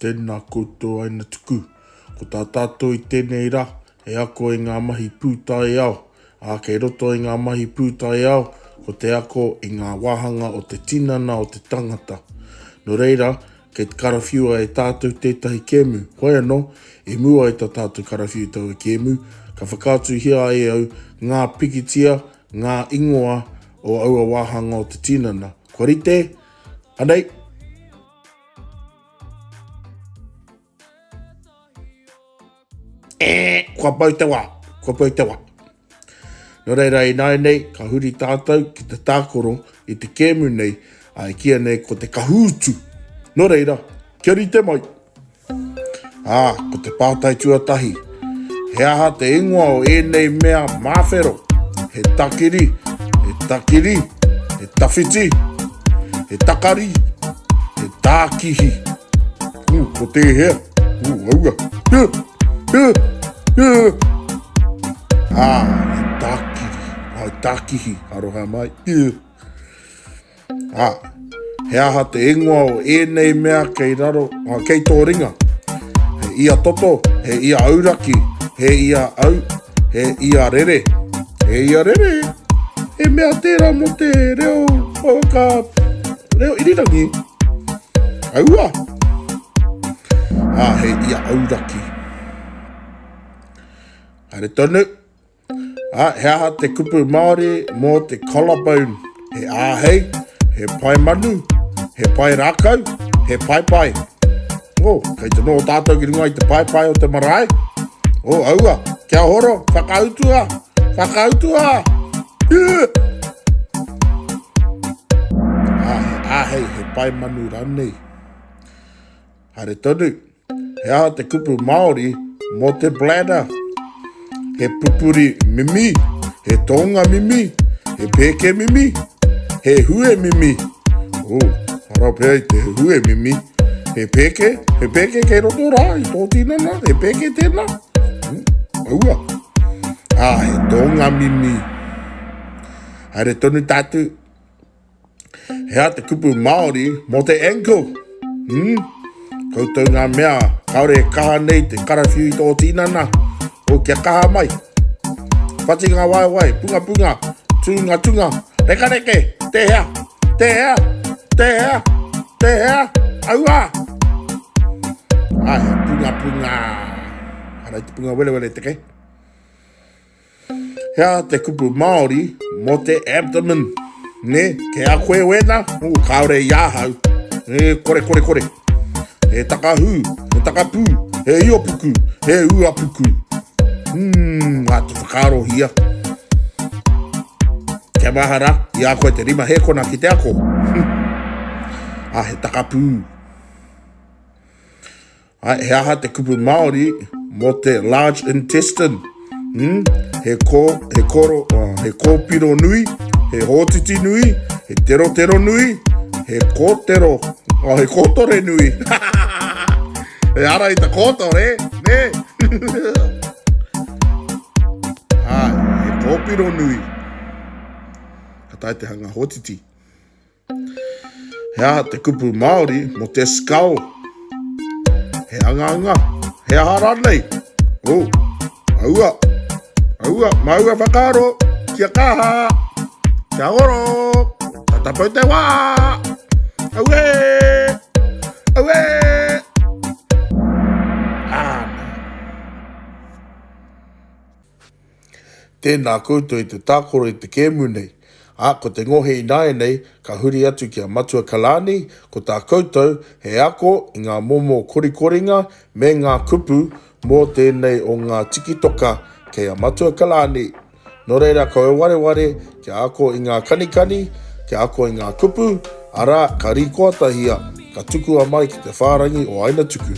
Tēnā koutou aina tuku. Ko tā tātou i tēnei rā, he ako i ngā mahi pūtaiao, ā, kei roto i ngā mahi pūtaiao, ko te ako i ngā wāhanga o te tinana o te tangata. Nō reira, kei te karawhiua e tātou tētahi kēmu. Hoi anō, i mua i tā tātou karawhiu taua kēmu, ka whakaatuhia ai au ngā pikitia, ngā ingoa o aua wāhanga o te tinana. Kua rite? Anei! Eeh! Kua mau te wa! Kua mau te wa! No reira inainei ka huri tatou ki te takoro i te kemu nei, a e kia nei ko te Kahuutu. No reira, kia rite mai! Ā, ko te pātai tuatahi, He aha te ingoa o ēnei mea māwhero? He takiri, he takiri, he tawhiti, he takari, he tākihi. Ū, ko tēhea? Ū, aua. Hē! Hē! Hē! Ā, he tākiri. Ā, he tākihi. Aroha mai. Hē! Ā, he aha te ingoa o ēnei mea kei raro, ā, kei tō ringa? He ia toto, he ia auraki, he ia au, he ia rere. He ia rere, he mea tērā mō te reo whaka, reo irirangi. Aua! Ā, he ia auraki. Haere tonu, Ā, he aha te kupu Māori mō te collarbone? He āhei, he pae manu, he pae rākau, he paepae. O, kei te noho tātou ki runga i te paepae o te marae. O, aua, kia horo, whakautua, whakautua! Ā, he āhei, he pae manu rānei. Haere tonu. He aha te kupu Māori mō te bladder? He pupuri mimi, he tōnga mimi, he pēke mimi, he hue mimi. Ū, arā pea i te hue mimi. He pēke, he pēke kei roto rā i tō tinana, he pēke tēnā. Aua. Ā, he tōnga mimi. Haere tonu tātou. He aha te kupu Māori mō te ankle? Hmm? Koutou ngā mea, kāore e kaha nei te karawhiu i tō tīnana, o kia kaha mai. Whati ngā waewae, pungapunga, tūngatunga, rekareke, te hea, te hea, te hea, te hea, aua! Ai, pungapunga. Harai te punga welewele te ke. Hea te kupu Māori mō te abdomen? Nē, kei a koe wēnā? Ū, kāore i ahau. He korekorekore. He takahū, he takapū, he iopuku, he uapuku. Umm, mā te whakaarohia. Kia mahara, i a koe te rima hēkona ki te ako. Ā, he takapū. Hai, he aha te kupu Māori mō te large intestine? Hmm? He kō, he kōro, uh, he kōpiro nui, he hōtiti nui, he terotero nui, he kōtero, oh, he kōtore nui. he ara i ta kōtore, ne? Hai, he kōpiro nui. Ka tai te hanga hōtiti. He aha te kupu Māori mō te skull? He angaanga? He aha rānei? Oh, aua, aua, māua whakaaro, kia kaha, kia oro, tata pau te wā, aue, aue, āna. Tēnā koutou i te tākaro i te kēmu nei, ā, ko te ngohe ināianei ka huri atu ki a Matua Kalani, ko tā koutou he ako i ngā momo korikoringa me ngā kupu mō tēnei o ngā tikitoka kei a Matua Kalani. Nō reira ko e wareware kia ako i ngā kanikani, kia ako i ngā kupu, arā, ka rīkoatahia, ka tukua mai ki te whārangi o Aina Tuku.